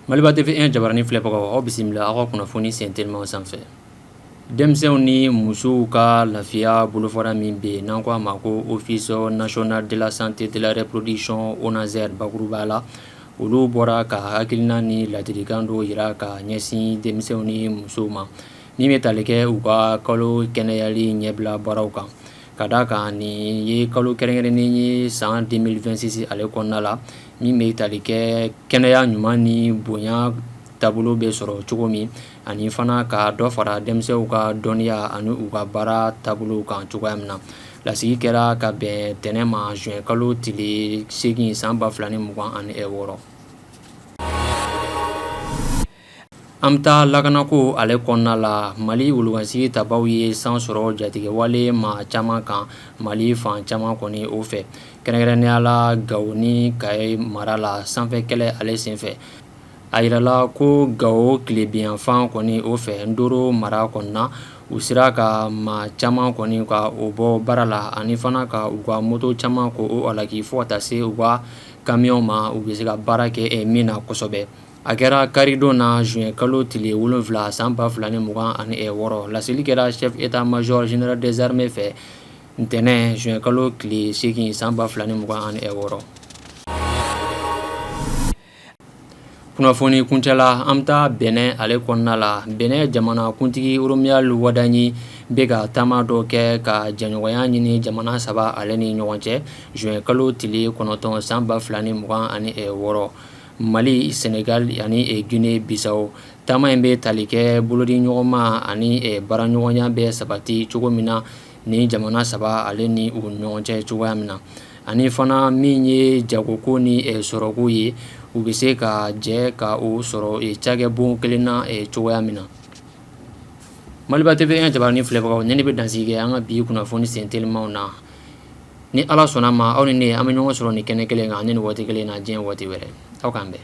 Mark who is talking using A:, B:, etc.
A: Maliba TV1 jabarani filɛbagaw aw bisimila aw ka kunnafoni sen telimaw sanfɛ denmisɛnw ni musow ka lafiya bolofara min bɛ yen n'an ko a ma ko Office national de la santé de la reproduction ONASR bakuruba la olu bɔra ka hakilina ni ladilikan dɔw jira ka ɲɛsin denmisɛnw ni musow ma Min bɛ tali kɛ u ka kalo kɛnɛyali ɲɛbila baaraw kan ka d' a kan nin ye kalo kɛrɛnkɛrɛnnen ye san 2026 ale kɔnɔna la min bɛ tali kɛ kɛnɛya ɲuman ni bonya taabolo bɛ sɔrɔ cogo min ani fana ka dɔ fara denmisɛnw ka dɔnniya ani u ka baara taabolo kan cogoya min na lasigi kɛra ka bɛn tɛnɛn ma juin kalo tile seegin san ba fila ni mugan ani wɔɔrɔ An bɛ taa lakanako ale kɔnɔna la mali wolokansigi tabaw ye san sɔrɔ jatigɛwale maa caman kan mali fan caman kɔni o fɛ kɛrɛnkɛrɛnnenya la gawo ni kayi mara la sanfɛ kɛlɛ ale senfɛ a jirala ko gawo tilebinyanfan kɔni o fɛ ndoro mara kɔnɔna na u sera ka maa caman kɔni ka o bɔ baara la ani fana ka u ka moto caman k' o halaki fo ka taa se u ka kamiyɔn ma u bɛ se ka baara kɛ min na kosɛbɛ A kɛra karidon na juin kalo tile 7 san 2026 laseli kɛra chef d'état major général des armées fɛ ntɛnɛn juin kalo tile 8 san 2026, kunnafoni kuncɛla an bɛ taa Benin ale kɔnɔna la, Benin jamanakuntigi Romuald Wadagni bɛ ka taama dɔ kɛ ka jɛɲɔgɔnya ɲini jamana saba ale ni ɲɔgɔn cɛ juin kalo tile 9 san 2026. Mali sɛnɛgali ani gine bisawo taama in bɛ tali kɛ bolodi ɲɔgɔnma ani baaraɲɔgɔnya bɛ sabati cogo min na ni jamana saba ale ni u ɲɔgɔn cɛ cogoya min na ani fana min ye jagoko ni sɔrɔko ye u bɛ se ka jɛ ka o sɔrɔ cakɛbon kelen na cogoya min na maliba TV1 jabarani filɛbagaw ni bɛ dan kɛ an ka bi kunnafoni sen telimaw na ni ala sɔnna a ma aw ni ne an bɛ ɲɔgɔn sɔrɔ ni kɛnɛ kelen kan ani ni waati kelen na diɲɛ waati wɛrɛ aw k'an bɛn